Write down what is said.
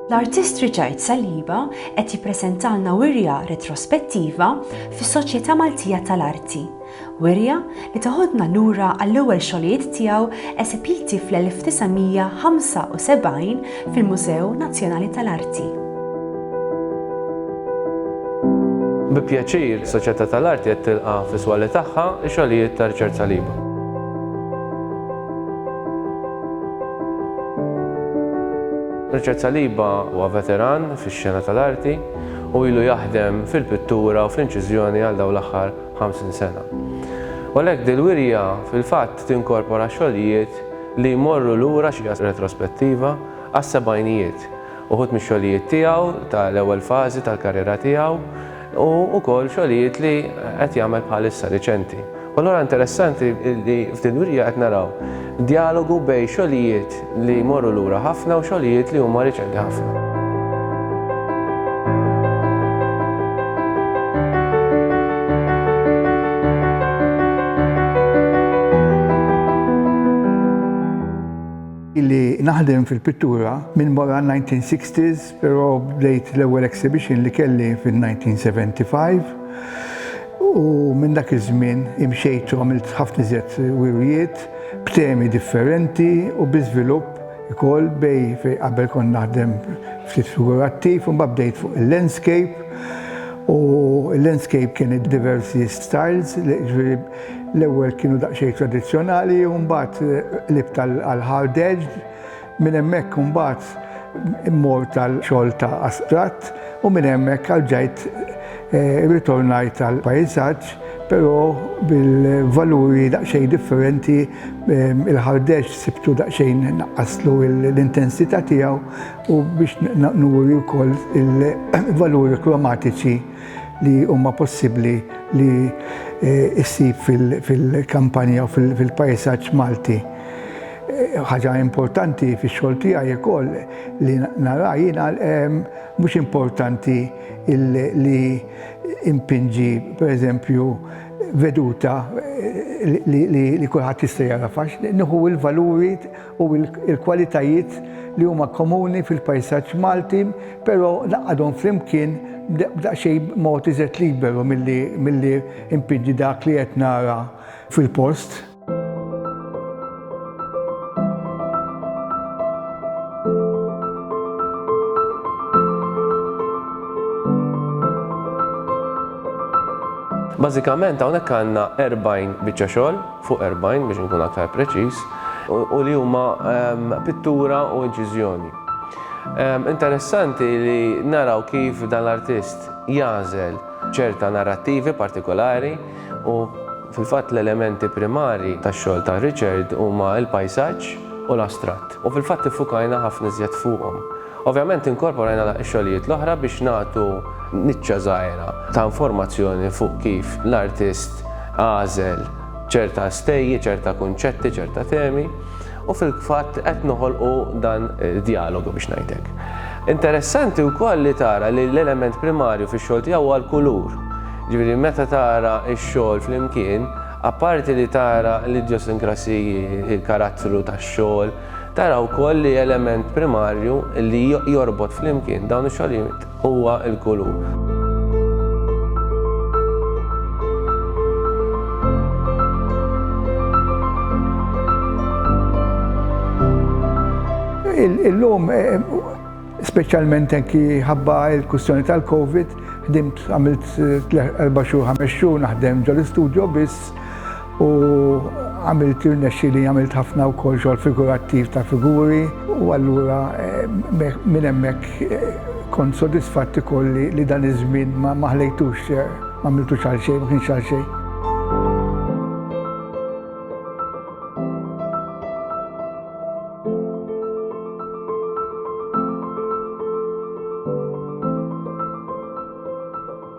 L-artist Richard Saliba qed jippreżentalna wirja retrospettiva fis-Soċjetà Maltija tal-Arti. Wirja li teħodna lura għall-ewwel xogħlijiet tiegħu esepiti fl-1975 fil-Mużew Nazzjonali tal-Arti. Bi pjaċir, is-Soċjetà tal-Arti qed tilqa' fis-swali tagħha x-xogħlijiet ta' Richard Saliba. Richard Saliba huwa veteran fix-xena tal-arti u ilu jaħdem fil-pittura u fl-inċiżjoni għal dawn l-aħħar 50 sena. U għalhekk dil-wirja fil-fatt tinkorpora xogħlijiet li jmorru lura, xi retrospettiva, għas-sebgħinijiet, uħud mix-xogħlijiet tiegħu ta' l-ewwel fażi tal-karriera tiegħu u wkoll xogħlijiet li qed jagħmel bħalissa riċenti. U allura interessanti li f'din il-wirja qed naraw djalogu bejn xogħlijiet li jmorru lura ħafna u xogħlijiet li huma riċenti ħafna. naħdem fil-pittura minn wara 1960s, però bdejt l-ewwel exhibition li kelli fil-1975. U minn dak iż-żmien imxejt u għamilt ħafna iżjed wirjiet b'temi differenti u bi żvilupp Ikoll bej fejn qabel kont naħdem ftit figurattiv u mbagħad bdejt fuq il-landscape u l-landscape kien id-diversi styles ġifieri l-ewwel kienu daqsxejn tradizzjonali u mbagħad qlibt għal hard edged minn hemmhekk imbagħad mort għal xogħol ta' astratt u minn hemmhekk għal ġajt Irritornajt għall-pajsaġġ, però bil-valuri daqsxejn differenti, il-ħardex sibtu daqsxejn naqqaslu l-intensità tiegħu u biex nuri wkoll il-valuri kromatiċi li huma possibbli li ssib fil-kampanja u fil-pajsaġġ Malti. Ħaġa importanti fix-xogħol tiegħi wkoll li nara jiena mhux importanti li impinġi pereżempju veduta li kulħadd jista' jara fax, nieħu l-valuri u l-kwalitajiet li huma komuni fil-pajsaġġ Malti, però ngħaqqadhom flimkien b'daqsxejn mod iżgħed liberu milli impinġi dak li qed nara fil-post. Bażikament hawnhekk għandna 40 biċċa xogħol, fuq 40 biex nkun aktar preċiż, u li huma ehm, pittura u inċiżjoni. Ehm, interessanti li naraw kif dan l-artist jażel ċerta narrattivi partikolari u Fil-fatt l-elementi primarji tax-xogħol ta' Richard huma l-pajsaġġ u l-astratt, u fil-fatt iffukajna ħafna iżjed fuqhom. Ovvjament inkorporajna x-xogħlijiet l-oħra biex nagħtu niċċa żgħira ta' informazzjoni fuq kif l-artist għażel ċerta stejji, ċerta kunċetti, ċerta temi. U fil-fatt qed noħolqu dan id-djalogu biex ngħid hekk. Interessanti wkoll li tara li l-element primarju fix-xogħol tiegħu huwa l-kulur. Ġifieri meta tara x-xogħol flimkien, apparti li tara l-idjosinkrasiji, il-karattru tax-xogħol, tara wkoll li element primarju li jorbot flimkien dawn ix-xogħlijiet Huwa l-kulur. Illum, eh, specialment enki ħabba il-kustjoni tal-Covid, ħdimt għamilt 4 eh, xhur, 5 xhur naħdem ġol-istudio biss U għamilt irnexxieli għamilt ħafna wkoll xogħol figurattiv ta' figuri u allura minn hemmhekk kont sodisfatt ukoll li dan iż-żmien ma ħlejtux m'għamiltux għal xejn, ma kienx għal xejn.